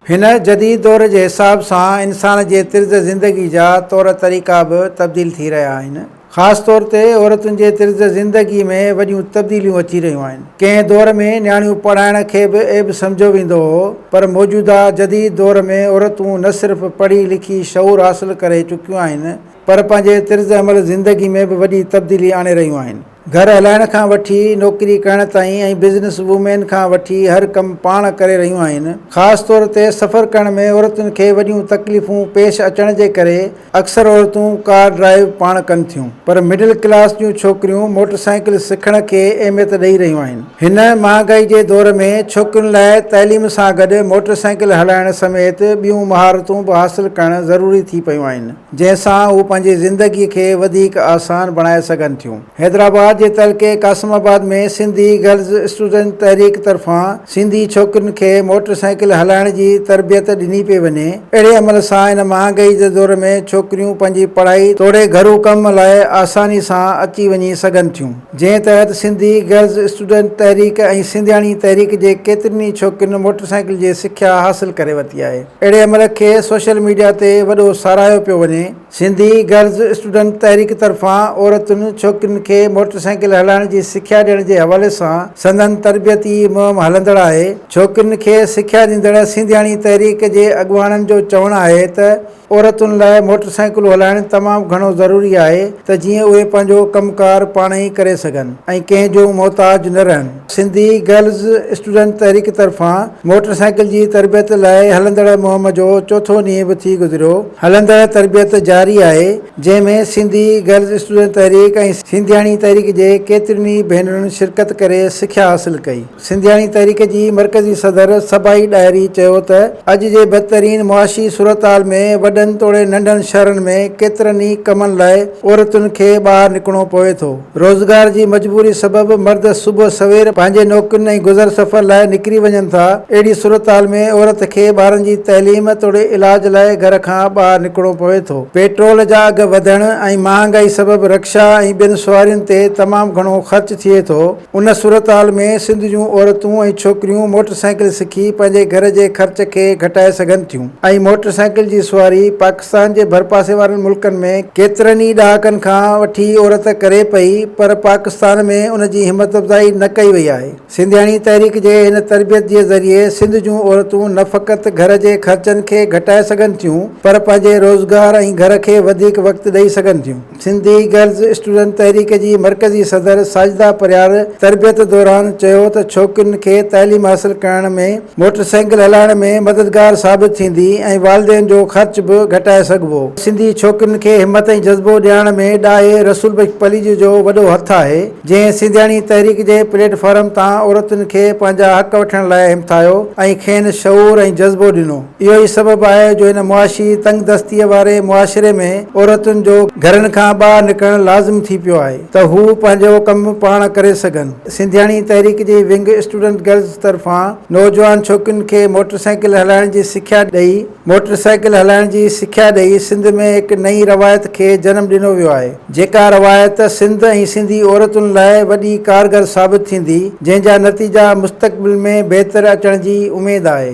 هن جديد دور جي حساب سان انسان جي طرز زندگي جا طور طريقا به تبديل ٿي رهيا آهن. خاص طور تي عورتن جي طرز زندگي ۾ وڏيون تبديليون اچي رهيون آهن. ڪنهن دور ۾ نياڻيون پڙهائڻ کي به عيب سمجهيو ويندو هو پر موجوده جديد دور ۾ عورتون نه صرف پڙهي لکي شعور حاصل ڪري چڪيون آهن پر پنهنجي طرز عمل زندگي ۾ به وڏي تبديلي آڻي رهيون آهن. گهر هلائڻ کان وٺي نوڪري ڪرڻ تائين ۽ بزنس وومين کان وٺي هر ڪم پاڻ ڪري رهيون آهن. خاص طور تي سفر ڪرڻ ۾ عورتن کي وڏيون تڪليفون پيش اچڻ جي ڪري اڪثر عورتون ڪار ڊرائيو پاڻ ڪن ٿيون پر مڊل ڪلاس جون ڇوڪريون موٽر سائيڪل سکڻ کي اهميت ڏئي رهيون آهن. هن مهانگائي جي دور ۾ ڇوڪرين لاء تعليم سان گڏ موٽر سائيڪل هلائڻ سميت ٻيون مهارتون به حاصل ڪرڻ ضروري ٿي پيون آهن. جنهن سان هو پنهنجي زندگي کي وڌيڪ آسان بڻائي سگهن ٿيون. حيدرآباد جي تعلقي Qasimabad ۾ Sindhi girls student Tehreek طرفان سنڌي ڇوڪرين کي موٽر سائيڪل هلائڻ جي تربيت ڏني پئي وڃي. اهڙي عمل سان هن مهانگائي جي دور ۾ ڇوڪريون پنهنجي پڙهائي توڙي گهرو ڪم لاء آساني سان اچي وڃي سگهن ٿيون. جنهن تحت سنڌي گرلز اسٽوڊنٽ تحريڪ ۽ سنڌياڻي تحريڪ جي ڪيترين ئي ڇوڪرين موٽر سائيڪل جي سکيا حاصل ڪري ورتي آهي. اهڙي عمل کي سوشل ميڊيا تي وڏو ساراهيو پيو وڃي. سنڌي گرلز اسٽوڊنٽ تحريڪ طرفان عورتن ڇوڪرين کي موٽر سائيڪل هلائڻ جي سکيا ڏيڻ جي حوالي سان سندن تربيتي مهم هلندڙ آهي ڇوڪرين کي سکيا ڏيندڙ سينڌياڻي تحريڪ جي اڳواڻن جو چوڻ آهي ته عورتن لاء موٽر سائيڪلون هلائڻ تمام گهڻو ضروري آهي ته جيئن اهي پنهنجو ڪم ڪار پاڻ ئي ڪري سگهن ۽ ڪنهن جون محتاج نه رهن. سنڌي گرلز اسٽوڊنٽ تحريڪ طرفان موٽر سائيڪل جي تربيت لاء هلندڙ مهم جو چوٿون ڏينهن به ٿي گذريو، هلندڙ تربيت جاري آهي، جنهن ۾ سنڌي گرلز اسٽوڊنٽ تحريڪ ۽ سنڌياڻي تحريڪ جي ڪيترين ئي ڀينرن شرڪت ڪري سکيا حاصل ڪئي. سنڌياڻي تحريڪ جي مرڪزي صدر صبائي ڏاهري چيو ته اڄ جي بدترين معاشي صورتحال ۾ وڏن توڙي ننڍن شهرن ۾ ڪيترن ئي ڪمن لاء عورتن کي ٻاهر نڪرڻو پوي ٿو، روزگار جي مجبوري سبب مرد صبح سوير پنهنجي نوڪرين ۽ گذر سفر لاء نڪري وڃن ٿا، اهڙي صورتحال ۾ عورت کي ٻارن جي تعليم توڙي علاج لاء گهر کان ٻاهر نڪرڻو پوي ٿو. پيٽرول جا اگهه وڌڻ ۽ مهانگائي سبب رڪشا ۽ ٻين سوارين تي تمام گهڻو خرچ ٿئي ٿو، ان صورتحال ۾ سنڌ جون عورتون ۽ ڇوڪريون موٽر سائيڪل سکي پنهنجي گهر جي خرچ کي گهٽائي سگهن ٿيون ۽ موٽر سائيڪل جي سواري پاڪستان پاڪستان جي ڀرپاسي وارن ملڪن ۾ ڪيترن ئي ڏهاڪن کان وٺي عورت ڪري پئي پر پاڪستان ۾ ان جي همت افزائي نه ڪئي وئي آهي. سنڌياڻي تحريڪ جي هن تربيت جي ذريعي سنڌ جون عورتون نه فقط گهر جي خرچن کي گهٽائي سگهن ٿيون پر پنهنجي روزگار ۽ گهر کي وڌيڪ وقت ڏئي سگهن ٿيون. سنڌي گرلز اسٽوڊنٽ تحريڪ جي مرڪزي صدر ساجده پرهياڙ تربيت دوران چيو ته ڇوڪرين کي تعليم حاصل ڪرائڻ ۾ موٽر سائيڪل هلائڻ ۾ مددگار ثابت ٿيندي ۽ والدين جو خرچ به گهٽائي سگهبو، سنڌي ڇوڪرين کي همت ۽ جذبو ڏيارڻ ۾ ڏاهي رسول بخش پليجي جو وڏو هٿ آهي، جنهن سنڌياڻي تحريڪ جي پليٽ فارم تان عورتن کي پنهنجا حق وٺڻ لاء همٿايو ۽ کين شعور ۽ جذبو ڏنو. اهو ئي سبب آهي جو هن معاشي تنگ دستيء واري معاشري ۾ عورتن جو گهرن کان ٻاهر نڪرڻ لازم ٿي پيو آهي ته هو پنهنجو ڪم پاڻ ڪري سگهن. سنڌياڻي تحريڪ جي ونگ اسٽوڊنٽ گرلز طرفان نوجوان ڇوڪرين کي موٽر سائيڪل هلائڻ جي سکيا ڏئي موٽر سائيڪل هلائڻ جي سکيا ڏئي سنڌ ۾ هڪ نئين روايت کي جنم ڏنو ويو آهي جيڪا روايت سنڌ ۽ سنڌي عورتن لاء وڏي ڪارگر ثابت ٿيندي جنهن جا نتيجا مستقبل ۾ بهتر اچڻ جي اميد آهي.